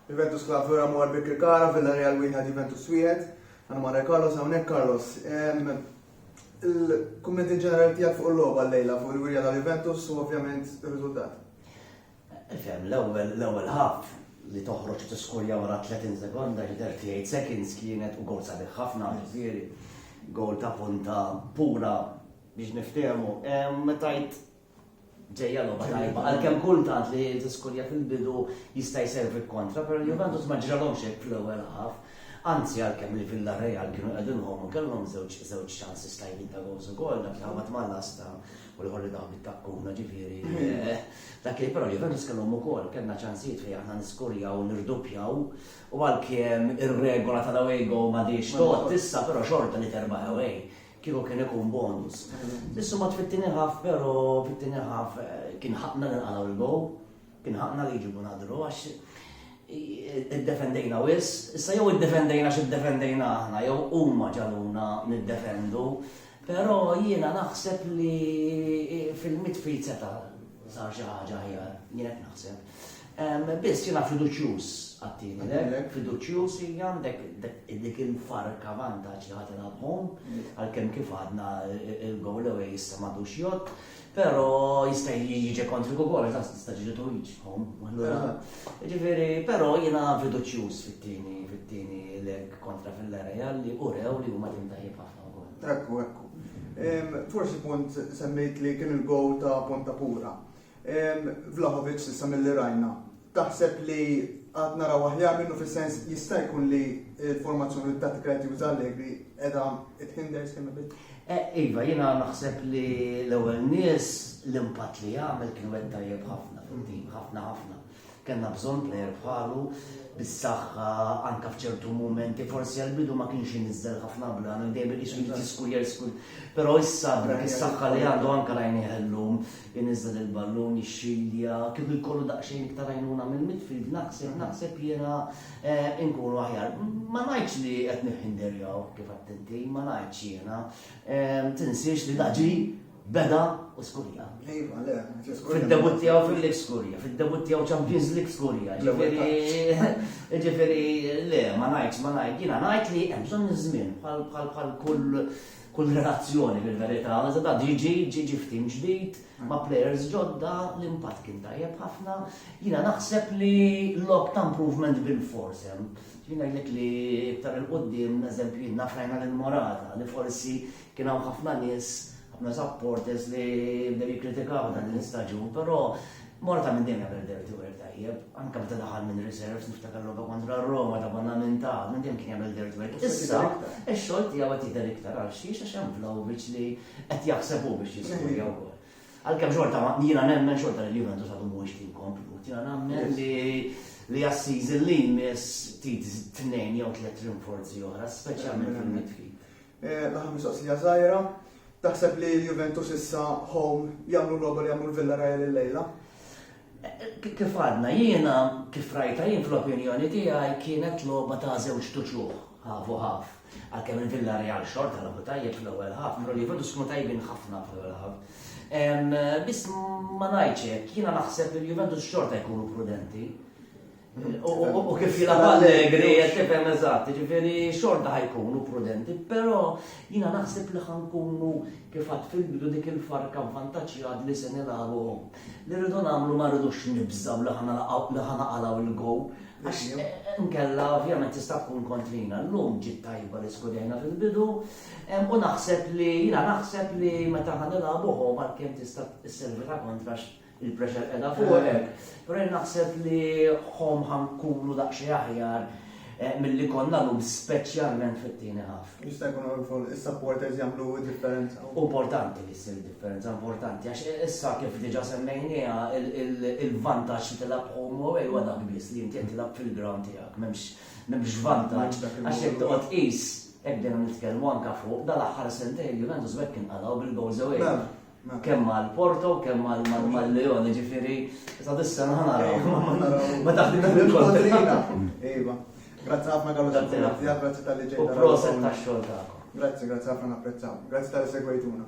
Juventus Club Flora Mor Birkirkara, Villarreal wieħed Juventus wieħed. Għana marra Carlos hawnhekk Carlos. Il-kummenti ġenerali tiegħek fuq il-logħba llejla fuq il-wirja tal-Juventus u ovvjament ir-riżultat. Fem, l-ewwel l-ewwel ħaf li toħroġ tiskurja wara 30 sekonda li 38 seconds kienet u gol sabiħ ħafna ġifieri gol ta' punta pura biex niftehmu. Metajt Ġejja logħba tajba, għalkemm kultant li tiskurja fil-bidu jista' jservi kontra, però Juventus ma ġralhomx hekk fl-ewwel ħaf. Anzi għalkemm li Villarreal kienu qegħdin home kellhom żewġ żewġ ċansi stajbin ta' gowls ukoll dak li ħabat mal-lasta u l-ħor li daħu bit-takkuna ġifieri. Eh, dak li però Juventus kellhom ukoll kellna ċansijiet fejn aħna niskurjaw nirduppjaw u għalkemm ir-regola tal-away go ma diex tot issa però xorta li terba' away Kieku kien ikun bonus. Issu mat fit-tieni ħaf, però fit-tieni ħaf eh, kien ħaqna li nqalgħu l-gow, kien ħaqna li jġibu nadru għax id-defendejna wis, issa jew id-defendejna x'id-defendejna aħna, jew huma ġaluna nid-defendu, però jiena naħseb li fil-midfield seta' Sar xi ħaġa aħjar, jien qed naħseb. Biss jiena fiduċjuż għattini, lek, fiduċjuż li għandek dik il-farka vantaġġ li ħadd nabhom, għalkemm kif għadna il-gowl ewwel jista' m'għadux jott, però jista' jiġi kontri ukoll ta' tista' ġiġi twiġħom. Ġifieri, però jiena fiduċjuż fit-tieni fit-tieni lek kontra fil-area li urew li huma tim tajjeb Ekku, ekku. Forsi punt semmejt li kien il-gowl ta' Ponta Pura. Vlahovic s'issa mill-li rajna. Taħseb li għad naraw aħjar minnu fis-sens jista' jkun li l-formazzjoni u t-tattika qed juża Allegri qiegħda tħinder skemm bit. E, iva, jiena naħseb li l-ewwel nies l-impatt li jagħmel kien wet tajjeb ħafna fil-tim, ħafna ħafna. Kellna bżonn plejer bħalu, bis-saħħa anke f'ċertu mumenti, forsi għall-bidu ma kienx iniżżel ħafna blan, dejjem iqisu jrid jiskur jerskur. Però issa dak is-saħħa li għandu anke rajnieh illum, iniżżel il-ballun, jixxilja, kieku jkollu daqsxejn iktar għajnuna mill-midfield naħseb naħseb jiena eh, inkunu aħjar. Ma ngħidx li qed nifħinderjaw kif għadt inti, ma ngħidx jiena. Eh, tinsiex li daġi Beda u skurja. Iva, le, Fid-debut tiegħu fil-lig skurja, fid-debut tiegħu Champions League skurja. Ġifieri, le, ma ngħidx, ma ngħid, jiena ngħid li hemm bżonn iż-żmien bħal kull kull relazzjoni fil-verità, da ġiġi, ġiġi ftim ġdid, ma' players ġodda, l-impatt kien tajjeb ħafna. Jina naħseb li lok ta' improvement bil-force hemm. Jina jgħidlek li iktar il-qoddim, eżempju, nafrajna l-morata li forsi Kien hawn ħafna nies, ħafna supporters li bdew jikkritikaw dan l-istaġun, però Morata minn dejjem jagħmel dirty work tajjeb, anke meta daħal minn reserves niftakar logħba kontra Roma ta' konna minn ta' minn dejjem kien jagħmel dirty work. Issa, ix-xogħol tiegħu qed jidher iktar għal xi għax hemm Vlaovic li qed jaħseb hu biex jiskurja wkoll. Għalkemm xorta ma jiena nemmen xorta li Juventus għadu mhuwiex tim komplut, jiena nemmen li li għas-season li jmiss tit tnejn jew tliet rinforzi oħra, speċjalment fil-midfield. L-aħħar mistoqsija żgħira, taħseb li l-Juventus issa home jagħmlu l-logħba li għamlu l-Villarreal illejla? Kif għadna, jiena kif rajtha jien fl-opinjoni tiegħi kienet logħba ta' żewġt uċuħ, half u half. Għalkemm il-Villarreal xorta logħbu tajjeb fl-ewwel half, però l-Juventus kienu tajbin ħafna fl-ewwel half. Biss ma ngħidx hekk, jiena naħseb li l-Juventus xorta jkunu prudenti. U kif jilab allegri, tifhem eżatt, ġifiri xorta ħajkunu prudenti, pero jina naħseb li ħankunu kif għad fil-bidu dik il-farka vantaġġjad li se nilagħbu. Li rridu nagħmlu ma rridux nibżaw li ħanaqalaw il-gow. Għax eh, nkella ovvjament tista' tkun kontrina llum ġiet tajba li skudejna fil-bidu u naħseb li jina naħseb li meta ħanilagħbuhom għalkemm tista' sservi ta' kontrax il-pressure qiegħda fuqek, però jien naħseb li home ħa nkunu daqsxejn aħjar eh, milli konna lum speċjalment fit-tieni ħaf. Jista' jkun fuq is-supporters jagħmlu differenza. Importanti li ssir differenza importanti għax issa kif diġà semmejniha il-vantaġġ li tilgħab home away huwa dak biss li inti tilgħab fil-ground tiegħek m'hemmx m'hemmx vantaġġ għax jekk toqgħod qis hekk dejjem nitkellmu anke fuq dal-aħħar sentejn Juventus bekk kien qalaw bil-goals away. Kemm għal Porto, kemm għal Leon, ġifiri, sa' dissa naħnaraw. Ma taħdi il-kontrina. Iva. Grazzi ħafna għallu s-sena, grazzi tal-li ġejna. U proset ta' xol ta' Grazzi, grazzi ħafna napprezzaw. Grazzi tal-li segwejtuna.